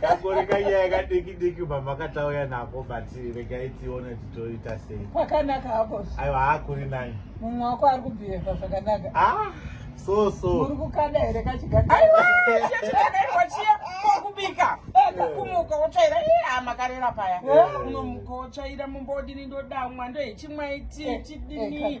kakore kanyaya kadiki diki mamakatauya nako but regai tione titoita sei kwakanaka hako aiwa hakuri nani mumwe wako ari kubhiheva zvakanaka ah, so so uri kukada here kachigaaaiwachiya kwakubika kakumuka wotsvaira a makarera paya unomuka wotsvaira mumba wodini ndodamwa ndohechimwaiti chidini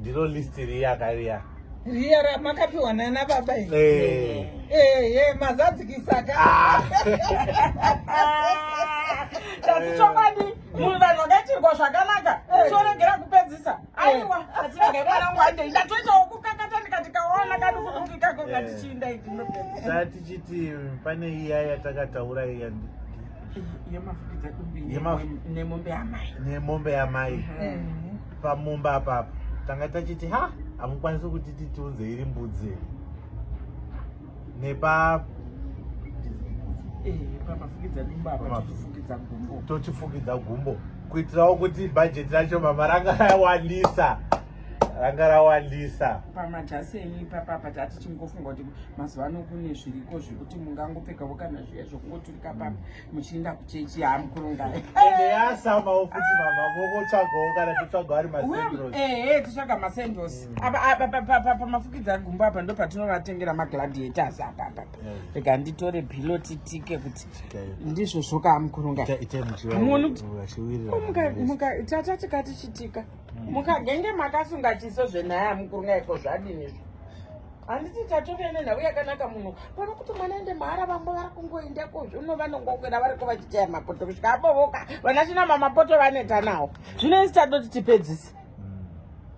ndiro list riya kariya riya ramakapiwa nana baba iri eh. eh, eh, mazadzikisa ka ah. tati chokwadi munhu vanhu vakaitirwa zvakanaka choregera kupedzisa aiwa atinenge mwana wangu andei ndatoitawo kukakata ndikati kaona kadi kudungikako ngatichiinda idinopedzisa tichiti pane iya yatakataura iya nemombe yamai nemombe yamai pamumba apapa tanga tachiti ha hamukwanisi kuti titunze iri mbudzi nepa tochifukidza gumbo kuitirawo kuti bhajeti racho mama ranga rawandisa ranga rawandisa pamajasi enyu ipapapa tati chingofunga kuti mazuva ano kune zviriko zvekuti mungangopfekavo kana zviya zvokungoti Kapa muchienda kuchechi yamukurunga ende yasamawo futi mama vokotsvagawo kana totsvaga ari masendros eh eh totsvaga masendros mm. apa apa apa pamafukidza gumbo apa ndo patinovatengera magladiators apa apa rega nditore pillow titike kuti ndizvo zvoka amukurunga ite muchiona kuti muka muka tata tikati chitika mm. mukagenge makasunga chiso zvenaya amukurunga iko zvadini izvo handiti tatove nenhau yakanaka muno pano kuti mwana aende mahara vamwe vari kungoenda kozvino vanongokwira variko vachichaya mapoto kusvika abovoka vana china mamapoto vaneta nawo zvino isi tadoti tipedzise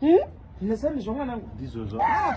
hmm. hmm? nesani zvo mwanangu ndizvozvo ah,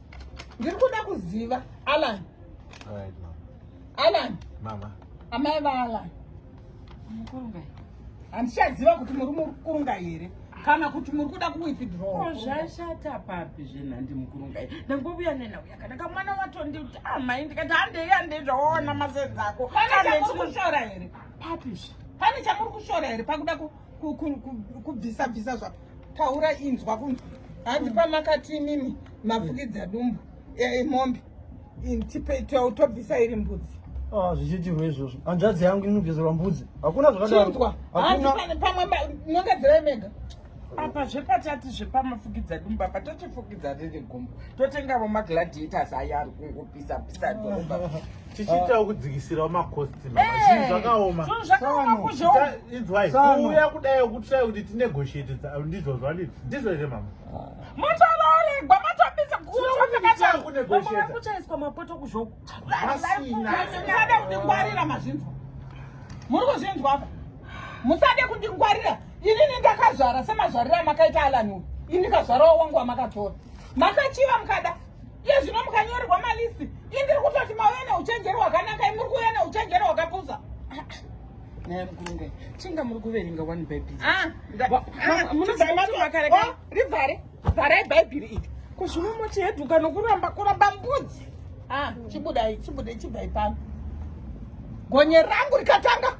ndiri kuda kuziva alan right, alan mama amai vaalan mukurungai handichaziva kuti muri mukurunga here kana kuti muri kuda kuwithdrow zvashata papi zvenhandi mukurungai ndangovuya nenauya kana kamwana watondiuti amai ah, ndikati handei handei zvawaona masenzi ako kushora here papi pane chamuri kushora here pakuda kubvisa bvisa zvapo taura inzwa kunzwa hanzi pamakati imimi mafukidza dumbu emombe tobvisa iri mbudzi ah, zvichiitirwa izvozvo hanzvadzi yangu inobviserwa mbudzi hakuna zvakadaroinzwa pamwe nongadzirai mega apa zvepatati zvepamafukidza dumba patotifukidza riri gumbo totengavo magladiators aya ari kungopisa pisa dhorobha tichiitawo kudzikisirawo makosti zvinhu zvakaoma inzwai kuuya kudai kutsvai kuti tinegotiate ndizvo zvanini ndizvo here mama matovaregwa matopisa kuchaiswa mapoto kuzvoku musade kundingwarira mazvinzwa muri kuzvinzwa apa musade kundingwarira inini ndakazvara semazvariro amakaita alaniwe ini kazvarawo wangu amakatora makachiva mukada Iye zvino mukanyorerwa malist indiri kutoti mauya neuchenjeri hwakanaka imuri kuuya neuchenjeri hwakapusa naye mkulunge chinga muri kuverenga one bible ah, ah, munozivaakarekai oh, rivhare vharai bhaibhiri iri kuzvino moti heduka nokuramba kuramba mbudzi ah, chibudai chibudai chibvai pano gonye rangu rikatanga